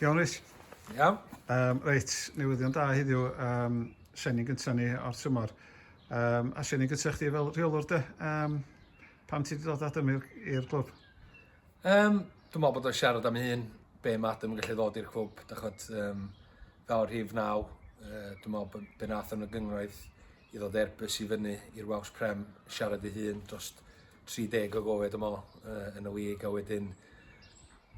Iawn Rich? Iawn. Um, reit, newyddion da heddiw, um, seni gyntaf ni o'r tymor. Um, a seni gyntaf chdi fel rheolwr de, um, pam ti wedi dod Adam i'r clwb? Um, dwi'n meddwl bod o'n siarad am un, be mae Adam yn gallu ddod i'r clwb, da chod, um, fel rhif naw, uh, dwi'n meddwl bod be nath yn y gyngraeth i ddod Airbus i fyny i'r Welsh Prem, siarad ei hun dros 30 o gofio dwi me'wl yy yn y league a wedyn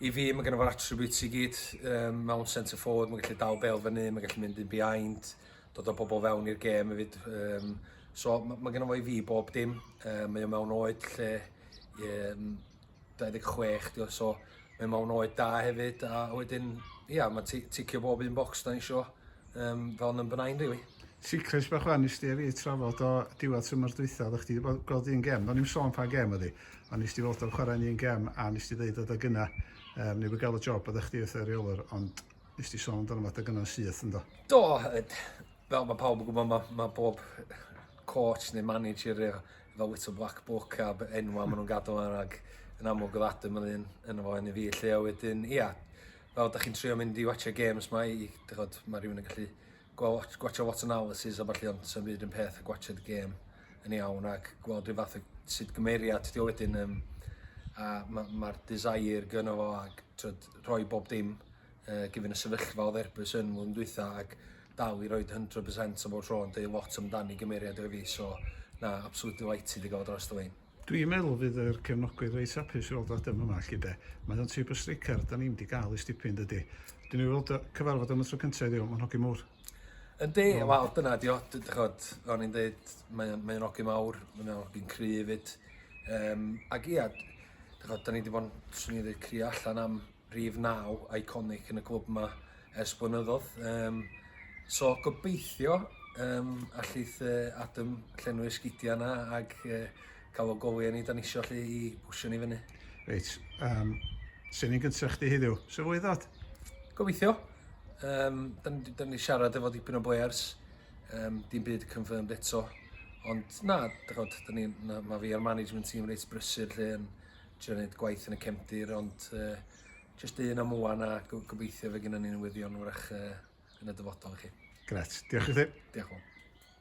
i fi ma' gynno fo'r attributes i gyd yym mewn centre forward ma'n gallu dal bêl fyny ma'n gallu mynd yn behind dod â pobol fewn i'r gêm efyd yym so ma' ma' gynno fo i fi bob dim yy mae o mewn oed lle yym 26 'di o so mae o mewn oed da hefyd a wedyn ia ma' ti- ticio bob un bocs 'dan ni isio um, fel number 9 rili. Really. Secret bach wan nes ti a fi trafod o diwedd tymor dwytha, oeddech chdi wedi gweld un gem, do'n i'n sôn pa gem oedd hi, ond nes ti fod o'r chwarae yn un gem a nes ti ddeud oedd yna, um, neu wedi gael y job oeddech chdi wrth y reolwr, ond nes ti sôn amdano fod yna'n syth ynddo. Do, fel mae pawb yn gwybod, mae, mae bob coach neu manager efo, efo little black book a enwa maen nhw'n gadw yna ac yn amlwg oedd Adam yn un yn efo yn y fi lle a wedyn, ia, fel 'dach chi'n trio mynd i watsio gêms 'ma i d'ch'od ma' rywun yn gallu gwa- watsh- gwatsio lot o analysis a ballu ond 'sa'm byd yn peth ag watshiad y gêm yn iawn ac gweld ryw fath o sud gymeriad 'di o wedyn yym a ma' ma'r desire gynno fo ag t'wod rhoi bob dim yy given y sefyllfa odd Erbyn yn flwyddyn dwitha ag dal i roid hundred percent am bob tro yn deud lot amdani gymeriad o fi so na absolutely delighted i ga'l o drosto Wayne. Dwi'n meddwl fydd yr cefnogwyr reit hapus i weld o adem yma 'lly 'de. Mae o'n tyb o streicar 'dan ni'm 'di ga'l ers dipyn dydi? Dwi newydd weld o, cyfarfod o am y tro cynta heddiw, ma'n hogyn mowr. Yndi, wel dyna ydi o, dych ch'od, fel o'n i'n deud, mae o'n mae o'n hogyn mawr, mae o'n hogyn cry' efyd. Yym ag ia, dych ch'od, 'dan ni 'di bo'n, swn i'n ddeud, crio allan am rhif naw iconic yn y clwb yma ers blynyddoedd. Um, so gobeithio um, allith uh, Adam llenwi'r sgidiau yna ac uh, cael o goliau ni dan isio allu i bwysio ni fyny. Reit, um, sy'n ni'n gyntaf chdi heddiw? Sy'n fwy ddod? Gobeithio. Um, dan, dan ni siarad efo dipyn o blayers, um, dim byd confirmed eto. Ond na, dych chi'n mae fi a'r management team reit brysur lle yn trio neud gwaith yn y cefndir ond yy jyst un am ŵan a go- gobeithio fe gynnon ni newyddion 'w'rach yy yn y dyfodol i chi. Grêt. Diolch i chdi. Diolch y' fowr.